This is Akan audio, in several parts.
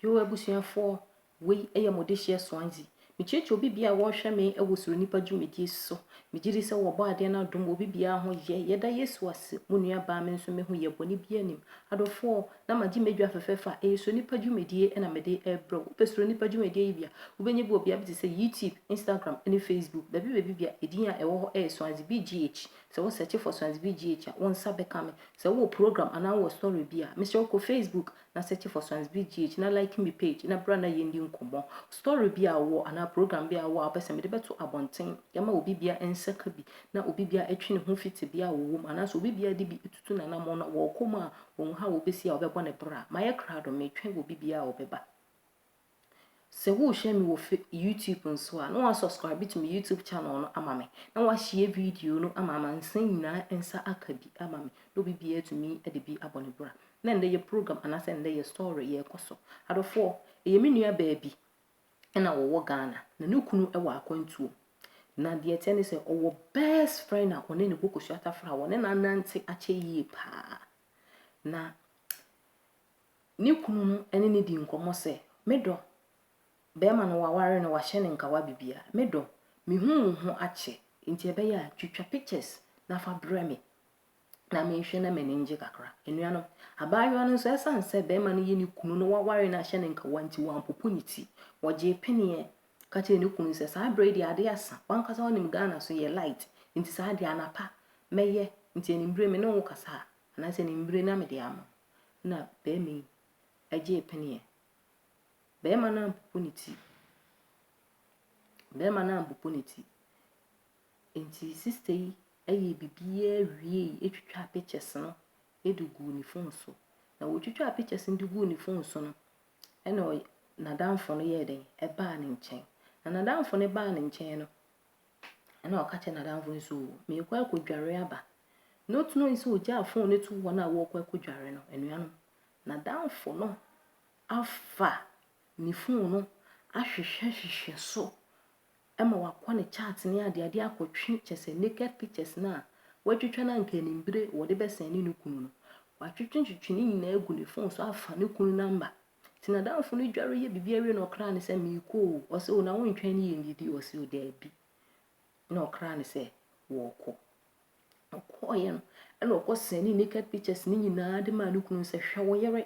Yoo abusuafoɔ, wei yɛ mo dehyeɛ Swansea. Mekyerɛkyerɛ obi biara a wɔrehwɛ me wɔ Suro Nnipa dwumadie so. Megye di sɛ wɔbɔ adeɛ no adom wɔ obi biara ho yɛ. Yɛda Yesu ase, mo nua baa me nso mehu yɛ, bɔne biara nim. Adɔfoɔ, na magye m'adwa fɛfɛɛfɛ a ɛyɛ Suro Nnipa dwumadie na mede rebrɛ wo. Wopɛ Suro Nnipa dwumadie yi bi a, wobɛnya bi wɔ bea bi te sɛ YouTube, Instagram ne Facebook. Baabi baabi biara, edin a ɛwɔ hɔ yɛ Swansea BGH. Sɛ wo search for Sons BGH a, wo nsa bɛka me. Sɛ wowɔ program anaa wowɔ story bi a, mesrɛ wo kɔ Facebook na search for Sons BGH na like me page na bra na yɛndi nkɔmmɔ. Story bi a wowɔ anaa program bi a wowɔ a wopɛ sɛ mede bɛto abɔnten yɛma obi biara nsa ka bi na obi biara ɛtwe ne ho fi tebea a wɔwɔ mu anaasɛ obi biara de bi tutu n'anammɔn na wɔrekɔ mu a wɔnhu how wɔbɛsi a wɔbɛbɔ no bra. Mayɛ krado, metwɛn obi biara a ɔbɛba. Sɛ worehwɛ me wɔ YouTube nso a, na wɔasubscribe to me YouTube channel no ama me, na wɔahyia video no ama amansan nyinaa nsa aka bi ama me, na obi biara tumi de bi abɔ ne bra. Na ɛndɛ yɛ program anaasɛ ɛndɛ yɛ story yɛrekɔ so. Adɔfoɔ, ɛyɛ me nua baa bi na wɔwɔ Ghana, na ne kunu wɔ akwantuo. Na deɛ ɛteɛ ne sɛ ɔwɔ best friend a ɔne ne bɔ kosua tafra a wɔne no anante akyɛ yie paa. Na Ne kunu no ne no dii nkɔmmɔ sɛ, Me dɔ, barima no wɔaware no, wɔahyɛ no nkawa biribiara. Me dɔ, mehu wo ho akyɛ, enti ɛbɛyɛ a twitwa pictures na fa brɛ me na menhwɛ na m'ani ngye kakra. Anuanom, abaayewa no nso, ɛsiane sɛ barima no yɛ ne kunu na wɔaware no ahyɛ no nkawa nti, wampopo ne ti. Ɔgyee peneɛ ka kyerɛɛ ne kunu sɛ, Saa berɛ yi deɛ adeɛ asa. W'ankasa wonim Ghana so yɛ light, enti saa deɛ anapa mɛyɛ, nti anwummere me ne wo kasa a, anaasɛ anwummere na mede ama wo. na barima yi gyee peneɛ. Barima no ampopo ne ti. Barima no ampopo ne ti. Enti sista yi yɛɛ biribiara wiei twitwaa pictures no de guu ne phone so. Na ɔtwitwaa pictures no de guu ne phone so no, ɛnna ɔy n'adamfo no yɛɛ dɛn? Ɛbaa ne nkyɛn. Na n'adamfo no baa ne nkyɛn no, Ɛnna ɔka kyerɛɛ n'adamfo no sɛ, Oo, merekɔ akɔdware aba. Na otu no sɛ ogyaa fon no tu wɔn a wɔrekɔ akɔdware no. Anuanom, n'adamfo no afa ne fon no ahwehwɛhwehwɛ so ma wakɔ ne chat ne adeade akɔtwe kyɛ sɛ naked pictures no a watwitwa no anka anim bere wɔde bɛsɛn ne ne kunu no. Watwetwetwe ne nyinaa agu ne fon so afa ne kunu namba. Nti n'adamfo no dware yɛ biribi awie na ɔkra no sɛ, Meekɔ o. Ɔse, O, na wontwɛn ne yɛnnidi? Ɔse, O, daabi. Ɛna ɔkra no sɛ, Wɔɔkɔ. Ɔkɔɔeɛ no, ɛna ɔkɔ sɛne naked pictures ne nyinaa de maa ne kunu sɛ, Hwɛ wo yere.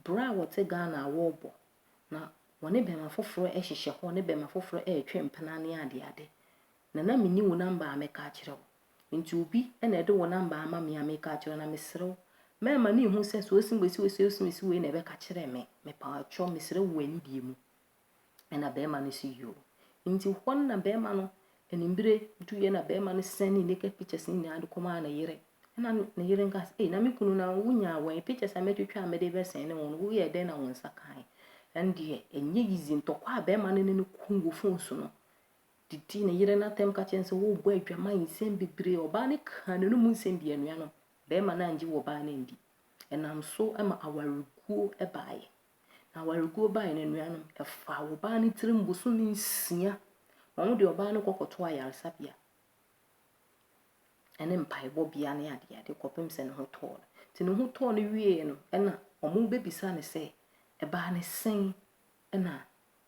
Bra a wɔte Ghana a wɔɔbɔ. Na wɔne bɛɛma foforɔ ɛhyehyɛ hɔ, ne bɛɛma foforɔ ɛɛtwe mpena ne adeade. Na na menni wo namba a mɛka akyerɛ wo. Enti obi na ɛde wo namba ama me a meka akyerɛ wo, na mesrɛ wo, mɛma no nhu sɛ sɛ ɔse mesi wei sɛ ɔse mesi wei na ɛbɛka kyerɛ me. Mepaatwɔ, mesrɛ wo wɔ anidie mu. Ɛna bɛɛma no se yoo. Enti hɔ no na bɛɛma no, animbire duiɛ na bɛɛma no sɛn ne naked pictures no nyinaa de kɔmaa ne yere. Ɛna ne yere nka sɛ, ei na me kunu na wonyaa wɛn, pictures a mɛtwitwa a mede bɛsɛn ne wo no, woyɛɛ dɛn na wo nsa kae? Ɛndeɛ, ɛnyɛ easy, ntɔkwa a bɛɛma no ne no kuu wɔ phone so no, didi ne yere no atɛm ka kyerɛ no sɛ worebɔ adwaman nsɛm bebree. Ɔbaa no kaa n'anom mu nsɛm dii anuanom, barima no angye wɔ ɔbaa no andi. Ɛnam so ma awareguo baeɛ. Na awareguo baeɛ no anuanom, ɛfaa ɔbaa no tirim bosome nsia. Wɔn de ɔbaa no kɔkɔtoo ayaresabea ne mpaebɔbea ne adeade kɔpem sɛ ne ho tɔɔ no. Nti ne ho tɔɔ no wieeɛ no, ɛna wɔbɛbisa no sɛ, ɛbaa ne sɛn? Ɛna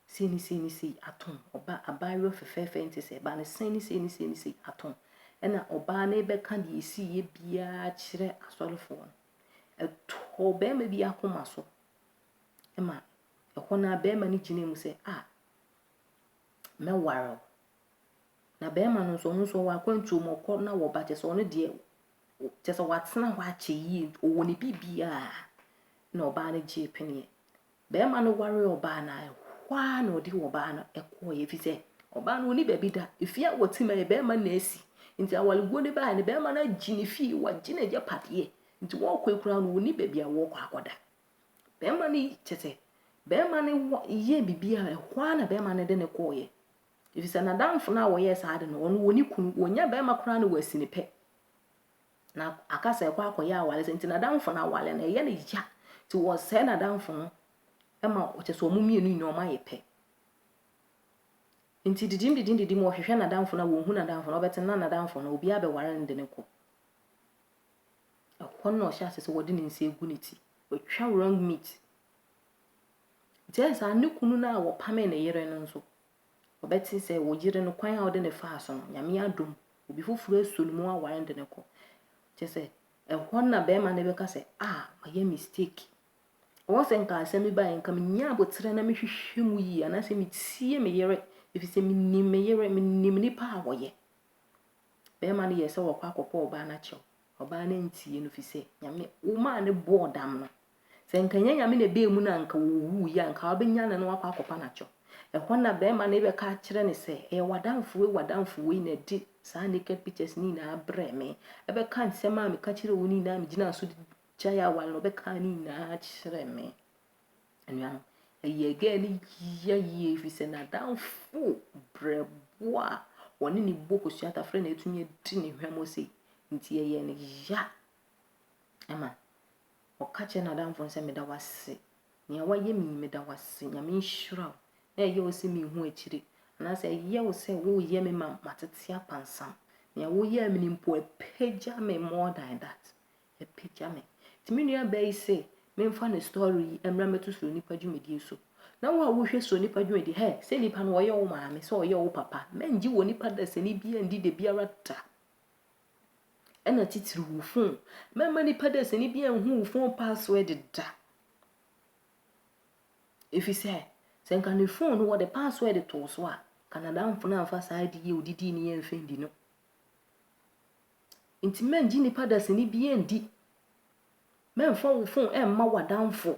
sei ne sei ne sei atom ɔba, abaayewa fɛfɛɛfɛ yi nte sɛ ɛba no, sei ne sei ne sei ne sei atom. Ɛna ɔbaa no rebɛka deɛ ɛsiiɛ biara kyerɛ asɔrefoɔ no. Ɛtɔɔ barima bi akoma so ma ɛhɔ no a barima no gyina mu sɛ, a mɛware wo. Na barima no nso ɔno nso ɔwɔ akwantuo mu ɔkɔ na wɔba kyɛ sɛ ɔno deɛ kyɛ sɛ watena hɔ akyɛ yie ɔwɔ ne biribiara na ɔbaa no gyee peneɛ Barima no waree ɔbaa no ara, ɛhɔ ara na ɔde ɔbaa no kɔeɛ, ɛfiri sɛ ɔbaa no ɔni baabi da. Efie a wɔte ma yɛ barima na asi. Nti awareguo no baeɛ no, barima no agye ne fie, wagye n'agyapadeɛ. Nti wɔrekɔ yi koraa no, ɔnni baabi a wɔrekɔ akɔda. Barima no kyɛ sɛ, barima no wɔ yɛɛ biribi a ɛhɔ ara na barima no de no kɔeɛ. Ɛfiri sɛ n'adamfo no a wɔyɛɛ saa ade no, ɔno ɔni kunu, ɔnya barima koraa na wasi ne pɛ. na aka sɛ ɛkɔ akɔyɛ aware sɛ nti n'adamfo no aware no ɛyɛ ne ya nti wɔsɛe n'adamfo no ma ɔkyɛ sɛ wɔn mmienu nyinaa wɔn ayɛ pɛ nti didim didim didim wɔhwehwɛ n'adamfo no a wɔhu n'adamfo no ɔbɛte na n'adamfo no obiara bɛware no de ne kɔ ɛhɔ na ɔhyɛ ase sɛ wɔde ne nsa egu ne ti watwa wrong meat nti ɛyɛ saa ne kunu no a wɔpame ne yere no nso Ɔbɛte sɛ wo yere no kwan a wode no faa so no, Nyame adom, obi foforɔ asuo no mu aware no de no kɔ. Kyɛ sɛ, ɛhɔ na bɛrima no bɛka sɛ, ah, mayɛ mistake. Ɔwɔ sɛ nka asɛm bi baeɛ, nka menya aboterɛ na mehwehwɛ mu yie, anaasɛ metie me yere, ɛfiri sɛ menim me yere, menim nipa a wɔyɛ. Bɛrima no yɛ sɛ wɔkɔ akɔpɔ ɔbaa no akyɛw. Ɔbaa no antie no, firi sɛ Nyame, wo maa no bɔɔ dam no, Sɛ anka ɛnyɛ Nyame na ɛbaa mu no a anka ɔwuiɛ a, anka wobɛnyane no akɔ akɔpa no akyɛ wo. Ɛhɔ na bɛrima no rebɛka akyerɛ no sɛ, ɛyɛ w'adamfo wei w'adamfo wei na ɛde saa naked pictures no nyinaa brɛɛ me. Ɛbɛka nsɛm a meka kyerɛɛ wo no nyinaa a megyinaa so de gyae aware no, ɔbɛkaa ne nyinaa kyerɛɛ me. Anuanom, ɛyɛɛ girl no yia yie ɛfiri sɛ n'adamfo brɛboɔ a wɔne ne bɔ kosua tafrɛ na atumi adi ne hwammɔ sei. Nti ɛyɛɛ no ya ma Ɔka kyerɛ n'adamfo no sɛ, Meda wo ase. Nea woayɛ me yi, meda wo ase. Nyame nhyira wo. Na ɛyɛ wo sɛ minhu akyiri. Anaasɛ ɛyɛ wo sɛ woreyɛ me ma matete apansam. Nea woyɛɛ me no mpo, apagya me more than that. Apagya me. Nti me nuabaa yi se memfa ne story yi mmra mmɛto Suro Nipa dwumadie so. Na wo a wohwɛ Suro Nipa dwumadie, hɛ, sɛ nipa no ɔyɛ wo maame, sɛ ɔyɛ wo papa, mɛngye wɔ nipa dasani biara ndi dabiara da. Ɛna titiriw wo fon. Mɛma nnipa dasani bi anhu wo fon password da. Efisɛ sɛ nka ne fon no wɔde password too so a, Canadamfo no amfa saa adi yɛ odidi ne yɛn mfɛn bi no. Nti mɛngye nnipa dasani bi ndi. Mɛmfa wo fon ɛmma w'adamfo.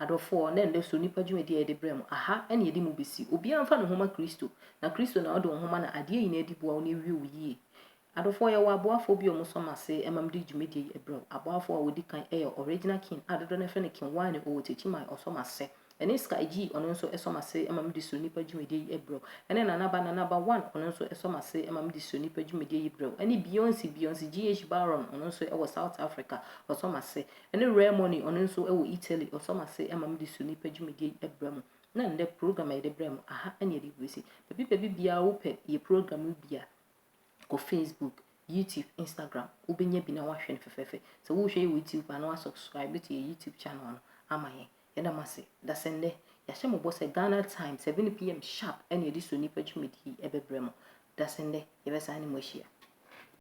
Adɔfoɔ, na ɛnnɛ so nnipa dwumadie a yɛde brɛ mo, aha na yɛde mo bɛsi. Obiara mfa ne ho ma Kristo, na Kristo na ɔde wo ho ma na adeɛ nyinaa di boa wo na ɛwie wo yie. Adɔfoɔ, yɛwɔ aboafoɔ bi a wɔsɔ mo ase ma mede dwumadie yi brɛ wo. Aboafoɔ a wɔdi kan yɛ Original King a dodoɔ no ara frɛ no King Wine, ɔwɔ Techiman, ɔsɔ mo ase. Ɛne Sky G, ɔno nso sɔ mo ase ma mede So Nnipa dwumadie yi brɛ wo. Ɛne Nana Ba, Nana Ba One, ɔno nso sɔ mo ase ma mede So Nnipa dwumadie yi brɛ wo. Ɛne Beyonce, Beyonce GH Baron, ɔno nso wɔ South Africa, ɔsɔ mo ase. Ɛne Rare Money, ɔno nso wɔ Italy, ɔsɔ m'ase ma mede su nnipa dwumadie yi brɛ mo. Na nnɛ, program a yɛde brɛ mo, aha ne yɛde rebɛsi. Baabi baabi biara wopɛ yɛ program no bi a, kɔ Facebook, YouTube, Instagram, wobɛnya bi na woahwɛ no fɛfɛɛfɛ. Sɛ worehwɛ yɛ wɔ YouTube a, na woasubscribe to yɛ YouTube channel no ama yɛn. Yɛda mo ase. Dasɛnnɛ, yɛahyɛ mo bɔ sɛ Ghana time 7pm sharp na yɛde su nnipa dwumadie yi bɛbrɛ mo. Dasɛnnɛ, yɛbɛsan ne mo ahyia.